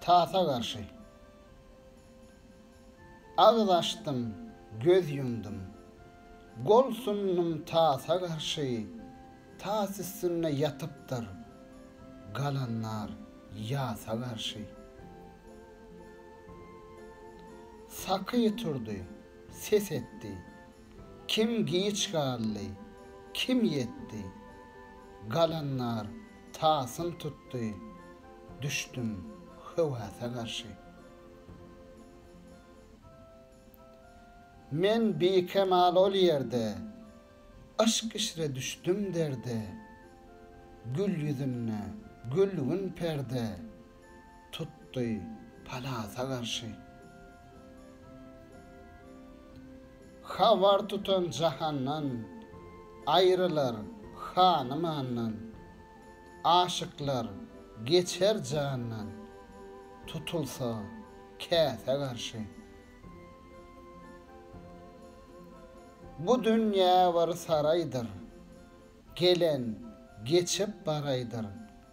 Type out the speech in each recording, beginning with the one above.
Tasa garşy. Agyz açdym, göz ýumdum. Gol sundum tasa garşy. Tas üstünde ýatypdyr. Galanlar ýasa garşy. Saky turdy, ses etdi. Kim giç galdy, kim ýetdi. Galanlar. Tasym tutdy, düşdüm höwese garşy. Men bikemal ol ýerde, yşk işre düşdüm derde. Gül ýüzünde gülgün perde. Tutdy palasa garşy. Habar tutan jahandan, Aýrylar hanymandan. Aşyklar geçer jandan, Tutulsa käsä garşy. Bu dünýä bir saraýdyr, Gelen geçip baraýdyr.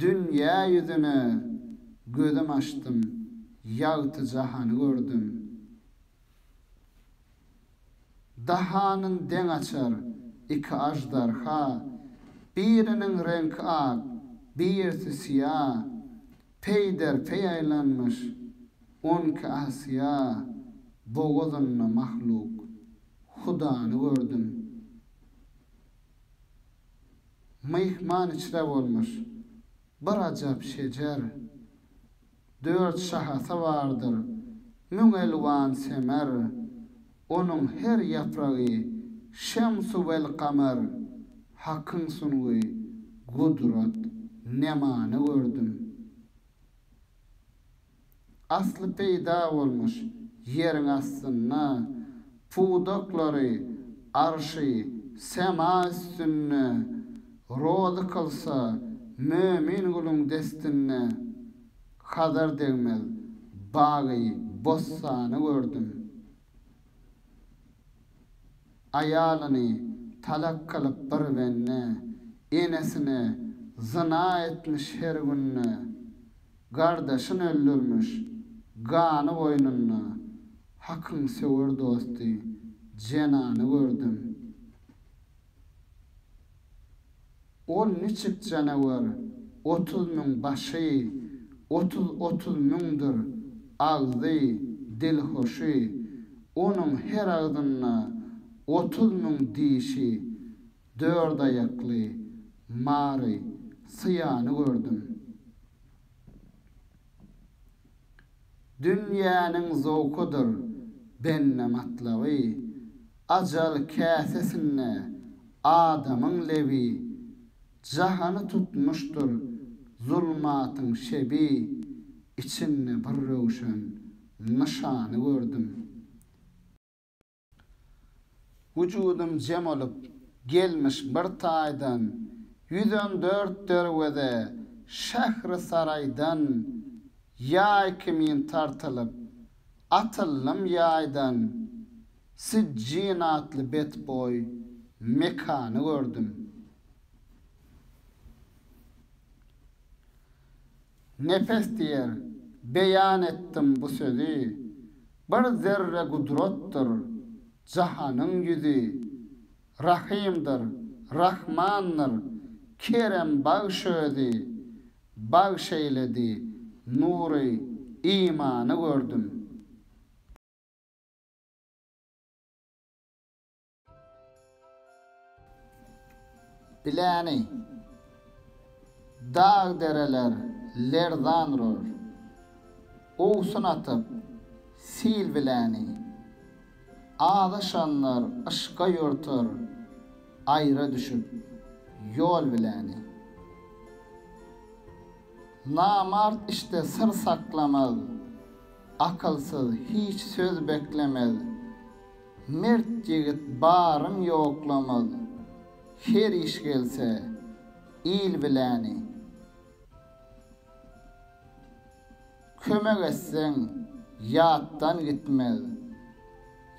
Dünýä ýüzüne gözüm açdym, ýagty jahany gördüm. Dahanyn deň açar iki aždarha, biriniň reňki ak, birisi syýa, peýderpeý aýlanmyş onki asyýa bogazynda mahluk. Hudany gördüm. Myhman içre bolmuş, bir ajap şejer. Dört şahasy bardyr, müň elwan semer. Onuň her ýapragy şems-u wel kamer. Hakyň sungy, gudrat, nemany gördüm. Asly peýda bolmuş ýeriň astynda, pudaklary, arşy, sema üstünde, rozy kylsa, Mömin guluň destinde, Hazar degmez bagy, bossany gördüm. Aýalyny talak kylyp bir bende, Enesine zyna etmiş her günde. Gardaşyn öldürmüş, gany goýnunda, Hakyň söwer dosty, jenany gördüm. Ol niçik janawer, otuz müň başy, Otuz otuz müňdir agzy, dilhoşy, Onuň her agzynda otuz müň dişi, Dört aýakly mary, syýany gördüm. Dünýäniň zowkudyr bende matlaby, Ajal käsesinde adamyň lebi, Jahany tutmuşdyr zulmatyň şebi, Içinde bir röwşen nyşany gördüm. Wujudym jem olup, gelmiş bir taýdan, Ýüz on dört derweze şähri saraýdan, Ýaý kimin tartylyp, atyldym ýaýdan, Sijjin atly betboý mekany gördüm. Nepes diýer, beýan etdim bu sözi, Bir zerre gudratdyr jahanyň ýüzi, Rahymdyr, Rahmandyr, kerem bagş özi. Bagş eýledi nury imany gördüm. Biläni, dag-dereler lerzan urar. Owsun atyp, sil biläni. Azaşanlar yşka ýortar, aýra düşüp, ýol biläni. Namart işde syr saklamaz, akylsyz hiç söz beklemez. Mert ýigit baryn ýoklamaz, her iş gelse, il biläni. Kömek etseň, ýatdan gitmez,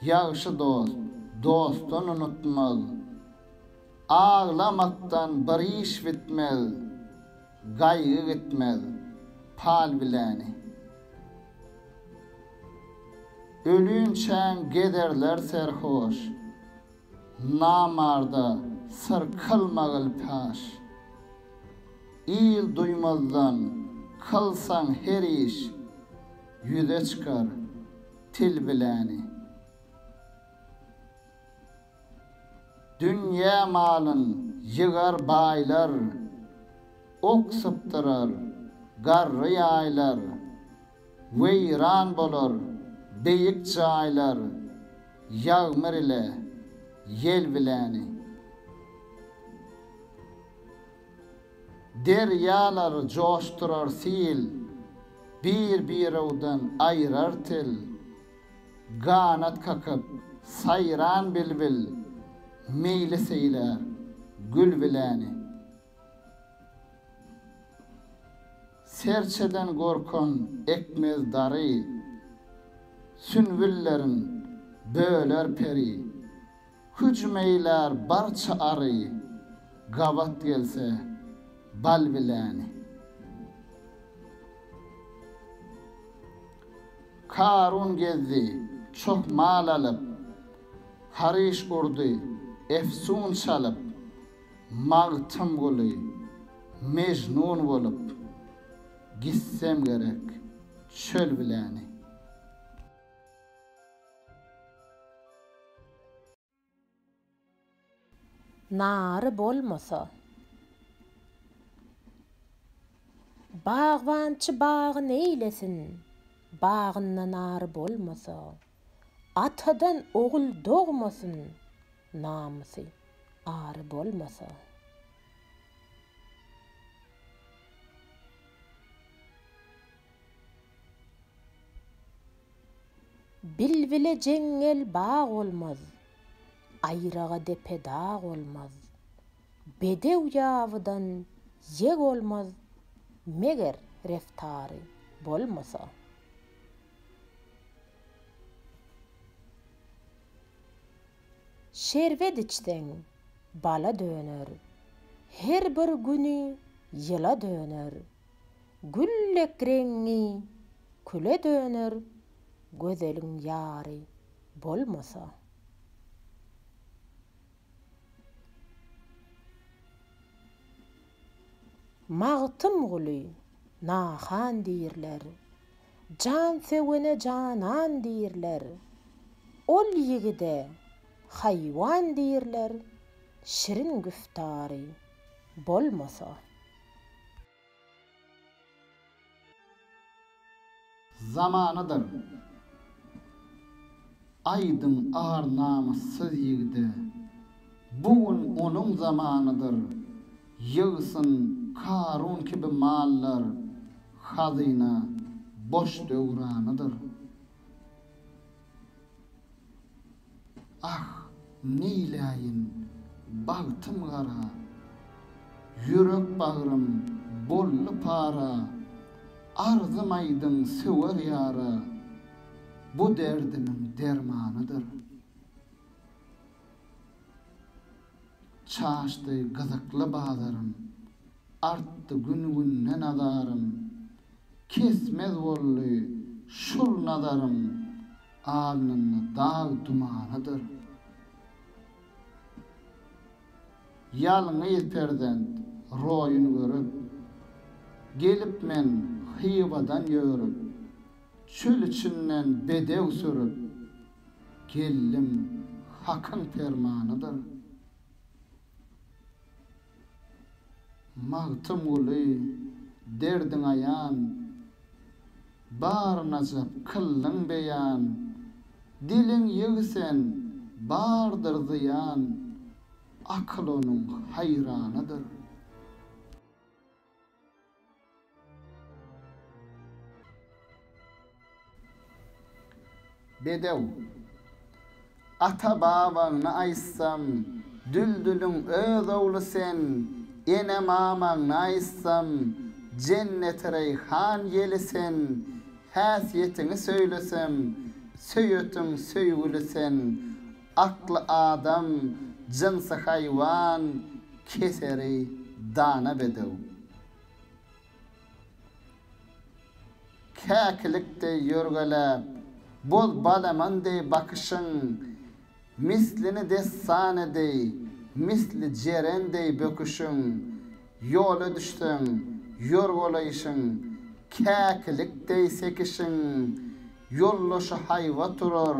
ýagşy dost, dostun unutmaz. Aglamakdan bir iş bitmez. Gaýgy gitmez pal biläni. Ölünçäň gezerler serhoş. Namarda syr kylmagyl paş. Il duýmazdan kylsaň her iş. Ýüze çykar til biläni. Dünýä malyn ýygar baýlar, Ok sypdyrar, garry ýaýlar, Weýran bolar beýik jaýlar, Ýagmyr ile ýel biläni. Derýalary joşdurar sil, Bir-birewden aýrar til, Ganat kakyp, saýran bilbil, Meýli seýlär, gül biläni. Serçeden gorkan ekmez dary, Sünbüllerin böler peri. Hüjüm eýlär barça ary. Gabat gelse bal biläni. Karun gezdi çoh mal alyp. Haryş urdy efsun çalyp. Magtymguly Mejnun bolup. Gitsem gerek çöl biläni. Nary bolmasa. Bagbançy bagy neýlesin, bagynda nary bolmasa. Atadan ogul dogmasyn, namysy, ary bolmasa. Bilbile jeňňel bag olmaz. Aýraga depe dag olmaz. Bedew ýabydan ýeg olmaz, meger reftary bolmasa. Şerbet içseň, bala döner. Her bir güni ýyla döner. Güllek reňňi küle döner gözeliň ýary bolmasa. Magtymguly nahan diýrler, jan sögene janan diýrler, ol ýigide haýwan diýrler şirin güftary bolmasa. Zamanadyr aýdyň ar namyssyz ýigide, Bu gün onuň zamanydyr. Ýygsyn Karun kibi mallar, Hazyna boş döwranydyr. Ah, neýläýin, bagtym gara, Ýürek bagrym boldy para, Arzym aýdyň söwer ýara, Bu derdimiň dermanydyr. Çaşdy gyzykly bazarym. Artdy gün-günden azarym. Kesmez boldy şul nazarym. Alnynda dag dumanydyr. Ýalňyz perzent roýun görüp. Gelip men Hywadan ýörüp. Çöl içinden bedew sürüp. Geldim, Hakyň permanydyr. Magtymguly, derdiň aýan, Bar najat kyldyň beýan, Diliň ýyg sen, bardyr zyýan, Akyl onuň haýranydyr. Bedew. Ata-babaňny aýtsam, Düldüliň öz ogly sen, Ene-mamaňny aýtsam, Jennetireýhan ýeli sen, Häsiýetiňi söýlesem, Söýetiň söýgüli sen, Akly adam, jynsy haýwan, keseri dana bedew. Käkilik deý ýörgeläp, boz balaman deý bakyşyň, mislini dessany deý, misli jeren deý böküşiň, ýola düşseň, ýorgalaýşyň, käkilik deý sekişiň, ýoldaşy haýbat urar,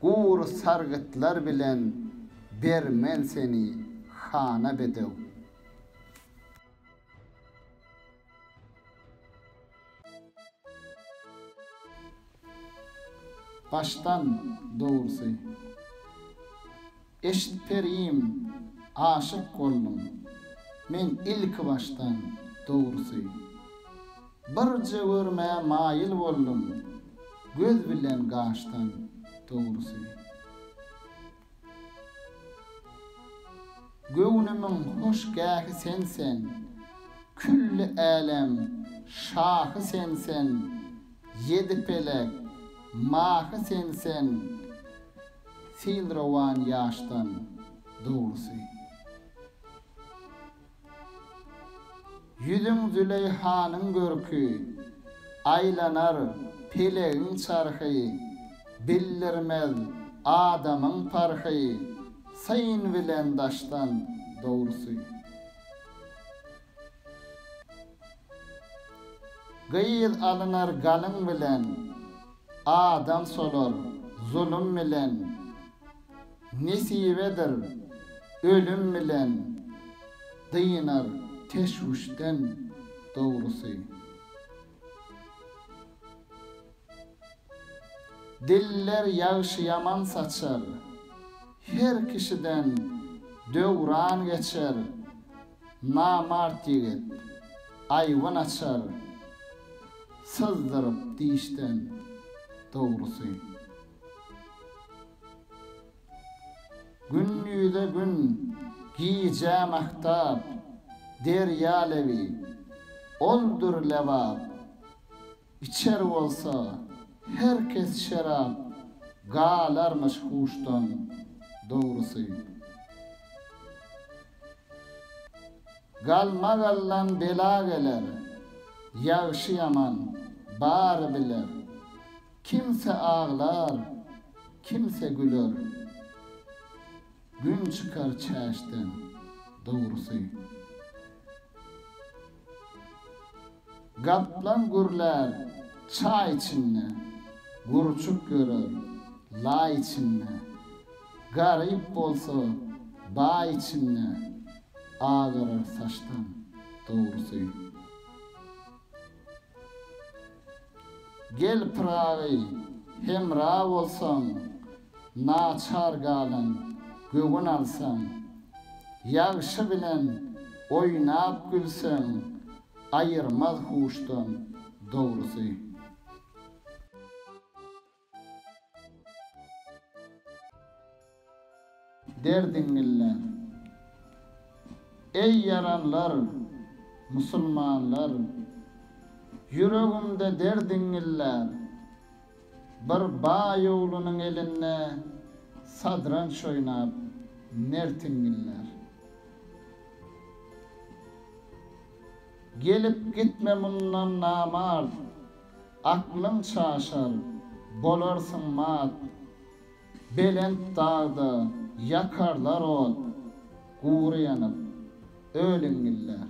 Gur sargytlar bilen bermen seni hana bedew. Başdan dogrusu. Eşit perim, aşyk boldum men ilki başdan, dogrusy. Birje görmä maýyl boldum göz bilen gaşdan, dogrusy. Göwnümiň hoşgähi sensen, külli älem şahy sensen, ýedi pelek mahy sensen, Sil rowan ýaşdan dogrusy. Ýüzüň Züleýhanyň görki, Aýlanar pelegiň çarhy, Bildirmez adamyň parhy, Syn bilen daşdan dogrusy. Gyz alynar galyň bilen, Adam solar zulum bilen. Nesibedir ölüm bilen, Dynar teşwüşden dogrusy. Diller ýagşy-ýaman saçar, Her kişiden döwran geçer. Namart ýigit, aýwan açar syzdyryp dişden, dogrusy. Gün ýüze gün, gijä mahtap, derýa lebi, oldur lebap. Içer bolsa, her kes şerap, Galarmyş huşdan, dogrusy. Galmagaldan bela geler, Ýagşy-ýaman, bary biler. Kimse aglar, kimse güler, Gün çykar çäşden, dogrusy. Gaplan gürlär çaý içinde, Gurçuk ýörer laý içinde, Garyp bolsa baý içinde, Agarar saçdan dogrusy. Gel Pyragy hemra bolsaň, Naçar galan göwün alsaň, Ýagşy bilen oýnap gülseň, Aýyrmaz huşdan dogrusy. Derdiňňille. Eý ýaranlar, musulmanlar. Ýüregimde derdiňňiller. Bir baýawlynyň elinde sadranç oýnap, mertiňňillär. Gelip gitme mundan namart, aklyň çaşar, bolarsyň mat. Belent dagda ýakarlar ot, gury ýanyp, öliňňillär.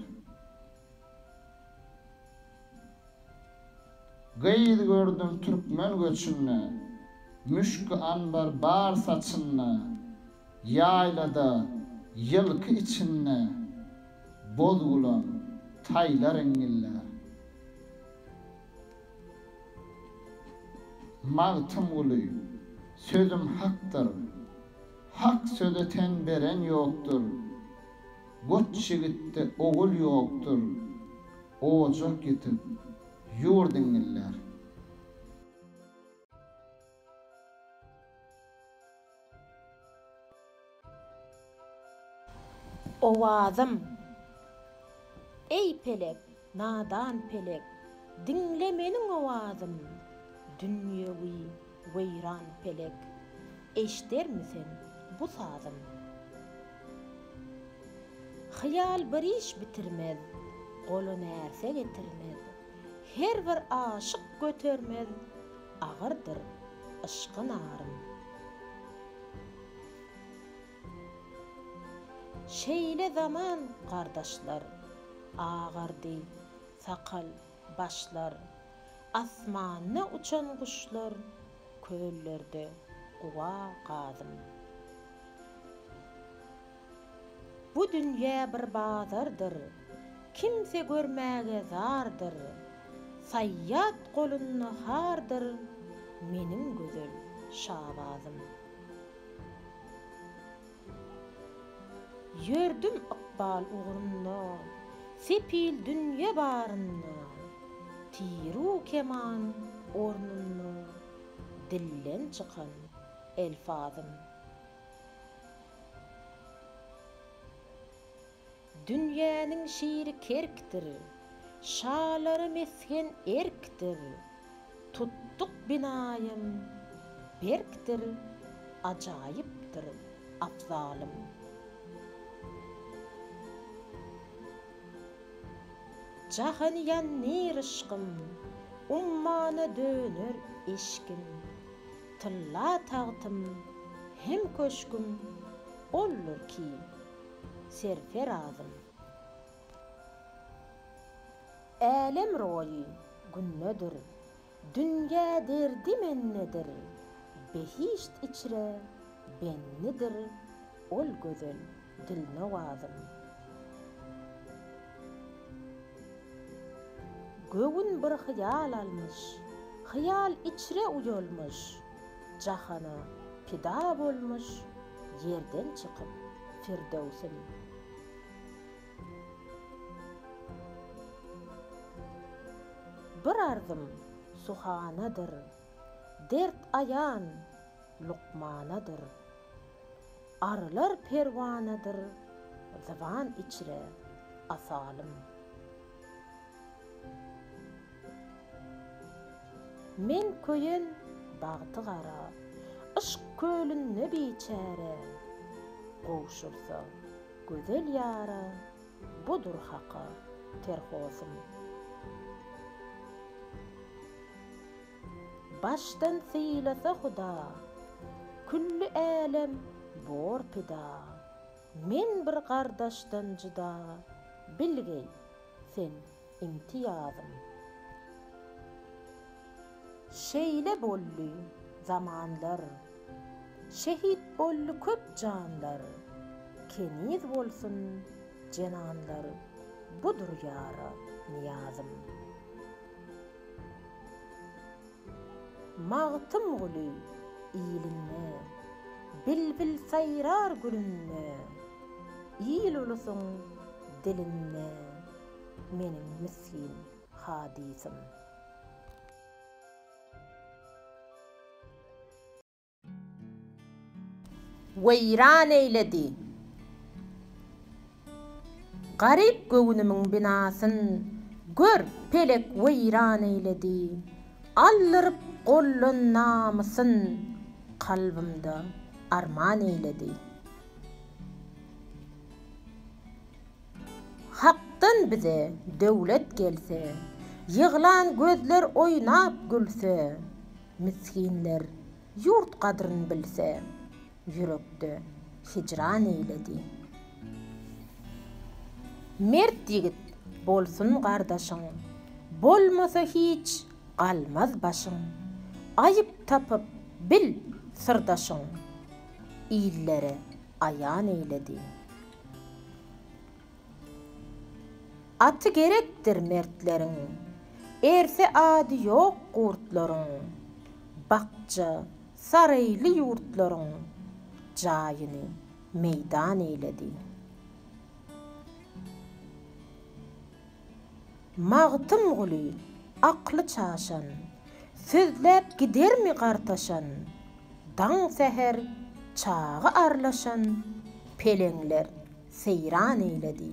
Gyz gördüm türkmen göçünde. Müşki anbar bar saçynda. Ýaýlada, ýylky içinde. Boz gulan, taýlar iňňillär. Magtymguly, Sözüm hakdyr. Hak söze ten beren ýokdur. Goç jigitde ogul ýokdur, ojak ýitip, ýurt iňňillär. Owazym, eý, pelek, Nadan pelek, diňle meniň owazym, Dünýewi weýran pelek, eşdermi sen bu sazym? Hyýal bir iş bitirmez, gola närse getirmez, Her bir aşyk götermez, agyrdyr yşky narym. Şeýle zaman gardaşlar, Agardy sakal, başlar. Asmanda uçan guşlar, Köllerde guba gadym. Bu dünýä bir bazardyr, Kimse görmäge zardyr, Saýýat golunda hardyr Meniň gözel Şabazym. Ýördüm ykbal ugrunda, sepil dünýe barynda, tiru keman ornunda dilden çykan elfazym. Dünýäniň şiri kerkdir. Şalara mesgen erkdir. Tutduk binaýam berkdir. Ajaýypdyr abzalym. Jahany ýandyr yşkym. Ummana döner eşgim. Tylla tagtym hem köşgüm boldur ki serferazym. Älem roýy gündedir, dünýä derdi mendedir, behişt içre bendidir ol gözel dilnowazym. Göwün bir hyýal almyş, hyýal içre uýalmyş, Jahana pida bolmuş ýerden çykyp Firdöwsüm. Bir arzym suhanadyr, dert aýan lukmanadyr. Arylar perwanadyr, zyban içre asalym. Men köýen bagty gara. Yşk kölünde biçäre. Gowşursa gözel ýara. Budur haka terhosym. Başdan sylasa huda. Külli älem bor pida. Men bir gardaşdan jyda. Bilgeý, sen inti ýazym. Şeýle boldy zamanlar. Şehit boldy köp janlar. Keniz bolsun jenanlar Budur ýara nyýazym. Magtymguly ilinde Bilbil saýrar gülünde Il-ulusyň dilinde. Meniň misgin hadysym. Weýran eýledi garyp göwnümiň binasyn, Gör, pelek weýran eýledi aldyryp goldan namysyn, Kalbymda arman eýledi. Hakdan bize döwlet gelse. Ýyglan gözler oýnap gülse. Misginler ýurt gadryn bilse. Ýürekde hijran eýledi. Mert ýigit bolsun gardaşyň. Bolmasa hiç galmaz başyň. Aýyp tapyp bil syrdaşyň. Illere aýan eýledi. Aty gerekdir mertleriň. Erse ady ýok gurtlaryň. Bakja, saraýly ýurtlaryň. Jaýyny meýdan eýledi. Magtymguly, akly çaşan. Sözläp gidermi gartaşan? Daň-säher çaga arlaşan. Peleňler seýran eýledi.